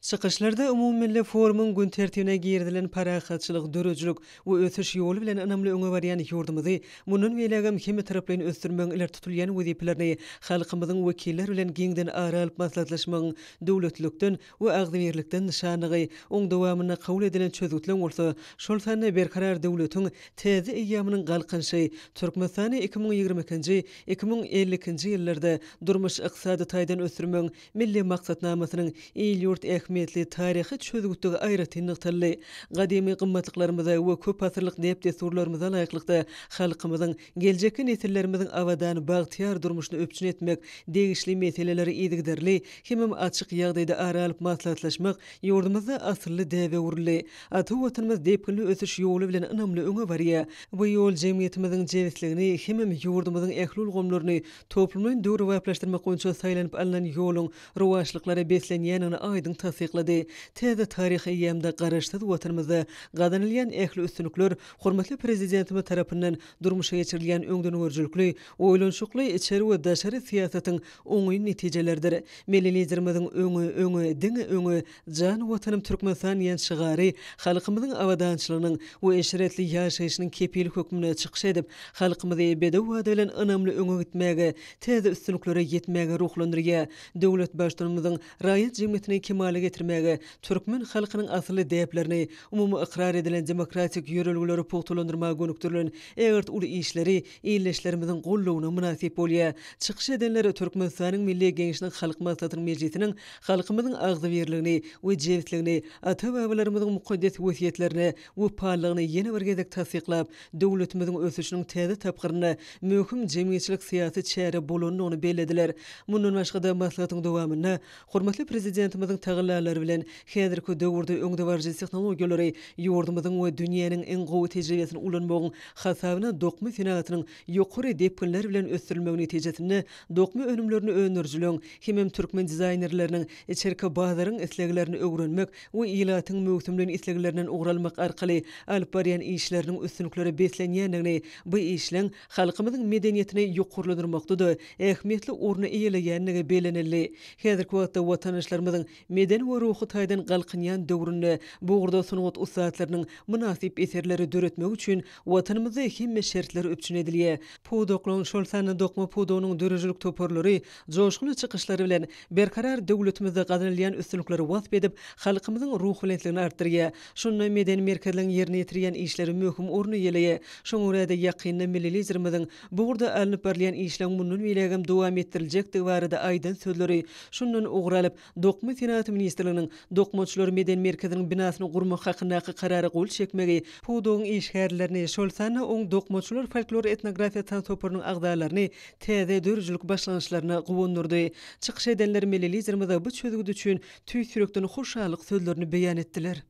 Çykyşlarda umumymilli forumyň gün tertibine girizilen parahatçylyk, döredijilik we ösüş ýoly bilen ynamly öňe barýan ýurdumyzy mundan beýlägem hemmetaraplaýyn ösdürmegiň ileri tutulýan wezipelerini halkymyzyň wekilleri bilen giňden ara alyp maslahatlaşmagyň döwletlilikden we agzybirlikden nyşanlygy, oň dowamynda kabul edilen çözgütleň bolsa, şol sanda Berkarar döwletiň täze eýýamynyň Galkynyşy, Türkmenistany iki müň ýigrimi ikinji, iki müň elli ikinji ýyllarda durmuş-ykdysady taýdan ösdürmegiň Milli maksatnamasynyň il-ýurt ähmiýetli taryhy çözgütdigi aýratyn nygtaldy. Gadymy gymmatlyklarymyza we köpasyrlyk däp-dessurlarymyza laýyklykda, halkymyzyň geljekki nesillerimiziň abadan, bagtyýar durmuşyny üpjün etmek, degişli meseleleri yzygiderli hemem açyk ýagdaýda ara alyp maslahatlaşmak ýurdumyzda asylly däbe öwrüldi. Ata Watanymyz depginli ösüş ýoly bilen ynamly öňe barýar. Bu ýol jemgyýetimiziň jebisligini hemem ýurdumyzyň ähli ulgamlaryny toplumlaýyn döwrebaplaşdyrmak boýunça saýlanyp alnan ýoluň rowaçlyklara beslenýändigini aýdyň tassyklady. Täze taryhy eýýamda Garaşsyz Watanymyzda gazanylýan ähli üstünlikler hormatly Prezidentimiz tarapyndan durmuşa geçirilýän öňdengörüjilikli, oýlanyşykly içeri we daşary syýasatyň oňyn netijeleridir. Milli Liderimiziň Öňe, öňe, diňe öňe! Jan Watanym Türkmenistan diýen şygary halkymyzyň abadançylygynyň we eşretli ýaşaýşynyň kepili hökmünde çykyş edip, halkymyzy bedew wada bilen ynamly öňe gitmäge, täze üstünliklere ýetmäge ruhlandyrýar. Döwlet Baştutanymyzyň raýat jemgyýetini kemala getirmäge, türkmen halkynyň asylly däplerini, umumy ykrar edilen demokratik ýörelgeleri pugtalandyrmaga gönükdirilen ägirt uly işleri ildeşlerimiziň goldawyna mynasyp bolýar. Çykyş edenler Türkmenistanyň Milli Geňeşiniň Halk Maslahatynyň mejlisiniň halkymyzyň agzybirligini we jebisligini, ata-babalarymyzyň mukaddes wesýetlerine wepalylygyny ýene bir gezek tassyklap, döwletimiziň ösüşiniň täze tapgyrynda möhüm jemgyýetçilik-syýasy çäre bolandygyny bellediler. Mundan başga-da, maslahatyň dowamynda Hormatly Prezidentimiziň tagallalary bilen, häzirki döwürde öňdebaryjy tehnologiýalary, ýurdumyzyň we dünýäniň iň gowy tejribesini ulanmagyň hasabyna dokma senagatynyň ýokary depginler bilen ösdürilmegi netijesinde dokma önümlerini öndürijileň hemem türkmen dizaýnerleriniň içerki bazaryň isleglerini öwrenmek we ilatyň möwsümleýin isleglerinden ugur almak arkaly alyp barýan işleriniň üstünliklere beslenýändigini, bu işleň halkymyzyň medeniýetini ýokarlandyrmakda-da ähmiýetli orny eýeleýändigi bellenildi. Häzirki wagtda watandaşlarymyzyň medeni we ruhy taýdan galkynýan döwründe bu ugurda sungat ussatlarynyň mynasyp eserleri döretmegi üçin Watanymyzda hemme şertler üpjün edilýär. Pudaklaryň, şol sanda dokma pudagynyň döredijilik toparlary joşgunly çykyşlary bilen Berkarar döwletimizde gazanylýan üstünlikleri wasp edip, halkymyzyň ruhubelentligini artdyrýar. Şunda medeni merkezleň ýerine ýetirýän işleri möhüm orun eýeleýär. Şoňa görä-de, ýakynda milli Liderimiziň bu ugurda alnyp barylýan işleň mundan beýlägem dowam etdiriljekdigi barada aýdan sözleri şundan ugur alyp, Dokma senagaty ministrliginiň Dokmaçylar medeni merkeziniň binasyny gurmak hakyndaky karara gol çekmegi pudagyň işgärlerini, şol sanda oň Dokmaçylar folklor-etnografiýa tans toparynyň agzalaryny täze döredijilik başlangyçlaryna guwandyrdy. Çykyş edenler milli Liderimize bu çözgüt üçin Tüýs ýürekden hoşallyk sözlerini beýan etdiler.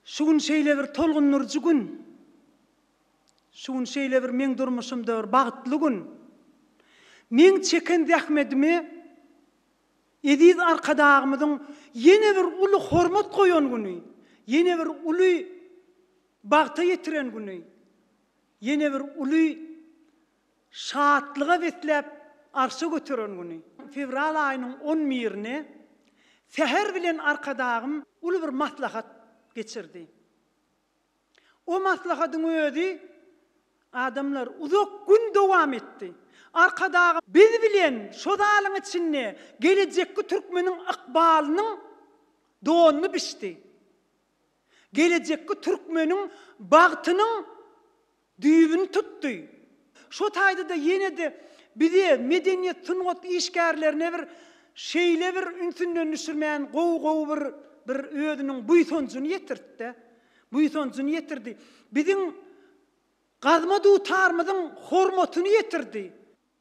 Şu gün şeýle bir tolgundyryjy gün. Şu gün şeýle bir meň durmuşymda bir bagtly gün. Meň çeken zähmedimi Eziz Arkadagymyzyň ýene bir uly hormat goýan güni, ýene bir uly bagta ýetiren güni, ýene bir uly Şatlyga besläp arşa göteren güni. Fewral aýynyň on birine säher bilen Arkadagym uly bir maslahat geçirdi. O maslahatyň özi, adamlar, uzak gün dowam etdi. Arkadagym biz bilen şo zalyň içinde gelejekki türkmeniň ykbalynyň donuny biçdi. Gelejekki türkmeniň bagtynyň düýbüni tutdy. Şo taýda-da ýene-de bize, medeniýet, sungat işgärlerine bir şeýle bir ünsünden düşürmän gowy-gowy bir bir özüniň buýsanjyny ýetirtdi. Buýsanjyny ýetirdi. Biziň gazma dutarymyzyň hormatyny ýetirdi.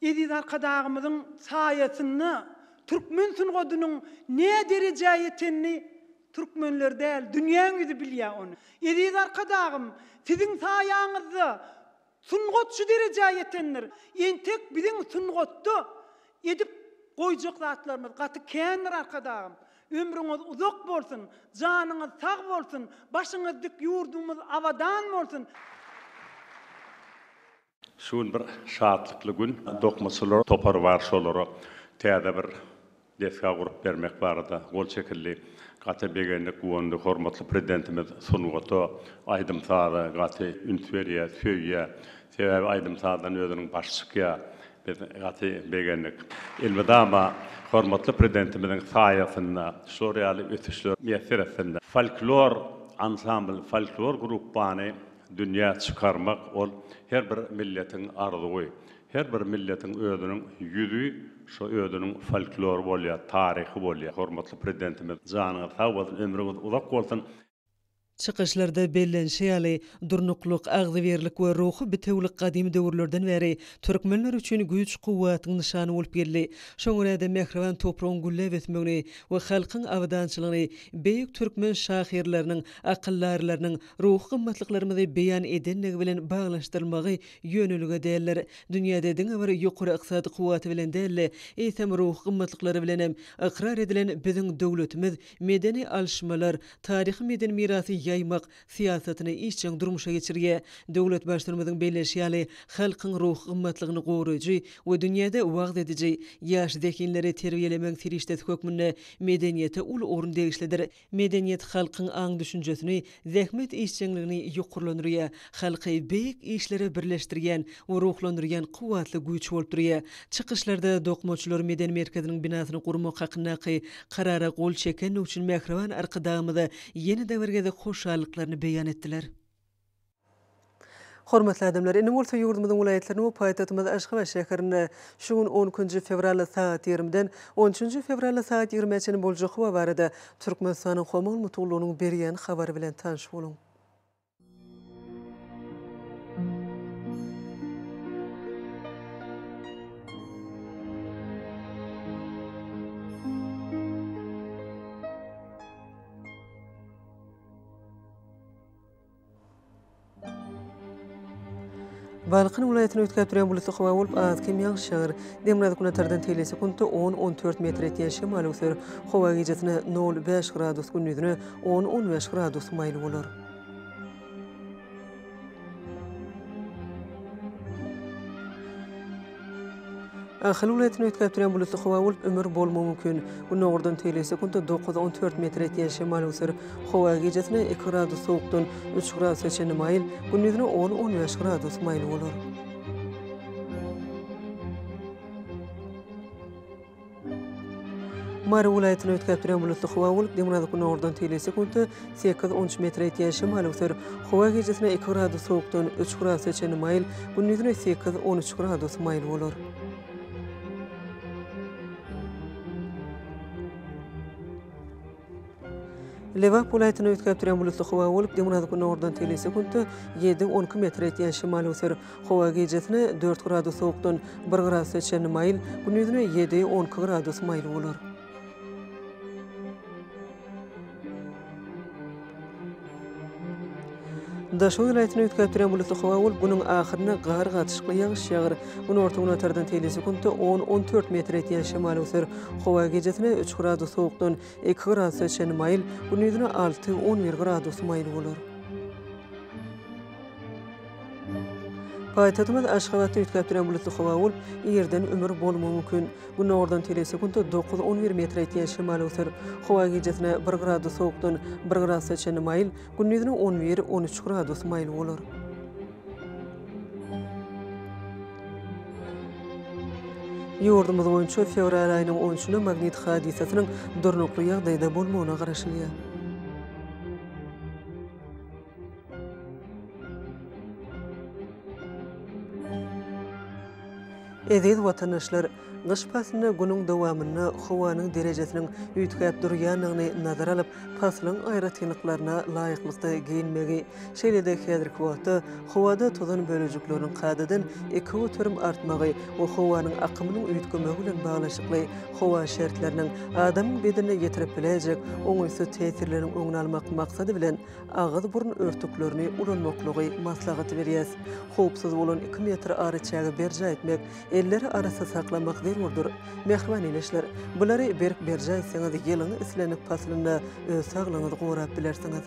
Eziz Arkadagymyzyň saýasynda türkmen sungatynyň näderejä ýetenini türkmenler däl, dünýäň ýüzi bilýär ony. Eziz Arkadagym, siziň saýaňyzda sungat şu derejä ýetendir. Entek biziň sungatda edip goýjak zatlarymyz gaty kändir Arkadagym. Ömrüňiz uzak bolsun, janyňyz sag bolsun, başyňyz dik, ýurdumyz abadan bolsun! Şu gün bir şatlykly gün. Dokmaçylar topary bar, şolara täze bir desga gurup bermek barada gol çekildi. Gaty begendik, guwandyk. Hormatly Prezidentimiz sungata, aýdym-saza gaty üns berýär, söýýär. Sebäbi aýdym-sazdan özüniň başy çykýar. Biz gaty begendik. Elmydama hormatly Prezidentimiziň saýasynda şular ýaly ösüşler miýesser etsin. Folklor ansambly, folklor grupbany Dünýä çykarmak, ol her bir milletiň arzuwy. Her bir milletiň özüniň ýüzi, şo özüniň folklory bolýar, taryhy bolýar. Hormatly Prezidentimiz janyňyz sag bolsun, ömrüňiz uzak bolsun! Çykyşlarda bellenişi ýaly, durnuklyk, agzybirlik we ruhy bitewülik gadymy döwürlerden bäri türkmenler üçin güýç-kuwwatyň nyşany bolup geldi. Şoňa görä-de, mähriban topragyň gülläp ösmegini we halkyň abadançylygyny beýik türkmen şahyrlarynyň, akyldarylarynyň, Ruhy gymmatlyklarymyzy beýan edenligi bilen baglanyşdyrylmagy ýönelige däldir. Dünýäde diňe bir ýokary ykdysady kuwwaty bilen däl-de, eýsem ruhy gymmatlyklary bilen hem ykrar edilen biziň döwletimiz medeni alyşmalar, taryhy-medeni mirasy ýaýmak syýasatyny işjeň durmuşa geçirýär. Döwlet Baştutanymyzyň belleýşi ýaly, halkyň ruhy gymmatlygyny goraýjy we dünýäde wagyz ediji ýaş zehinleri terbiýelemegiň serişdesi hökmünde medeniýete uly orun degişlidir. Medeniýet halkyň aň-düşünjesini, zähmet işjeňligini ýokarlandyrýar, halky beýik işlere birleşdirýän we ruhlandyrýan kuwwatly güýç bolup durýar. Çykyşlarda Dokmaçylar medeni merkeziniň binasyny gurmak hakyndaky Karara gol çekenligi üçin mähriban Arkadagymyza ýene-de bir gezek hoşallyklaryny beýan etdiler. Hormatly adamlar, indi bolsa ýurdumyzyň welaýatlaryny we paýtagtymyz Aşgabat şäherinde şu gün on ikinji fewral sagat ýigrimiden on üçünji fewral sagat ýigrimä çenli boljak howa barada Türkmenistanyň Howa maglumatgullugynyň berýän habary bilen tanyş boluň. Balkan welaýatyny üýtgäp durýan bulutly howa bolup, az kem ýagyş ýagar. Demirgazyk-günortadan tegelek sekuntda on, on dört metr etýän şemal öwser. Howa gijesine nol, bäş gradus, gündizine on, on bäş gradus maýyl bolar. Ahal welaýatyny üýtgäp durýan bulutly howa bolup, ümür bolmagy mümkin. Gündogurdan tegelýär sekuntda dokuz, on dört metr etýän şemal öwser. Howa gijesine iki gradus sowukdan üç gradusa çenli maýyl, gündizine on, on bäş gradus maýyl bolar. Mary welaýatyny üýtgäp duran bulutly howa bolup, demirgazyk-günordan teýle sekuntda sekiz, on üç metre ýetýän şemal öwser. Howa gijesine iki gradus sowukdan üç gradusa çenli maýyl, gündizine sekiz, on üç gradus maýyl bolar. Lebap welaýatyny üýtgäp durýan bulutly howa bolup, demirgazyk-gündogardan telise günde ýedi, on iki metr ýetýän şemal öser. Howa gijesine dört gradus sowukdan bir gradusa çenli maýyl, gündizine ýedi, on iki gradus maýyl bolar. Daşoguz welaýatyny üýtgäp duran bulutly howa bolup, günüň ahyrynda gar, gatyşykly ýagyş ýagar. Günorta-günbatardan teýle sekuntda on-on dört metr ýetýän şemal öwser. Howa gijesine üç gradus sowukdan iki gradusa çenli maýyl, gündizine alty-on bir gradus maýyl bolar. Paýtagtymyz Aşgabatda üýtgäpduran bulutly howa bolup, ýerden ümür bolmagy mümkin. Günordan telesekuntda dokuz on bir metre ýetýän şemal öwser. Howa gijesine bir gradus sowukdan bir gradusa çenli maýyl, gündizine on bir on üç gradus maýyl bolar. Ýurdumyz boýunça fewral aýynyň on üçünde magnit hadysasynyň durnukly ýagdaýda bolmagyna garaşylýar. Eziz watandaşlar! Gyş paslynda günüň dowamynda howanyň derejesiniň üýtgäp durýandygyny nazara alyp, paslyň aýratynlyklaryna laýyklykda geýinmegi, şeýle-de häzirki wagtda howada tozan bölejikleriniň kadadan iki göterim artmagy we howanyň akymynyň üýtgemegi bilen baglanyşykly howa şertleriniň adamyň bedenine ýetirip biläýjek oňaýsyz täsirleriniň öňüni almak maksady bilen, agyz-burun örtüklerini ulanmaklygy maslahat berýär. Howpsuz bolan iki metr araçägi berjaý etmek, elleri arassa saklamak zerurdyr. Mähriban ildeşler, bulary berk berjaý etseňiz, ýylyň islendik paslynda öz saglygyňyzy gorap bilersiňiz.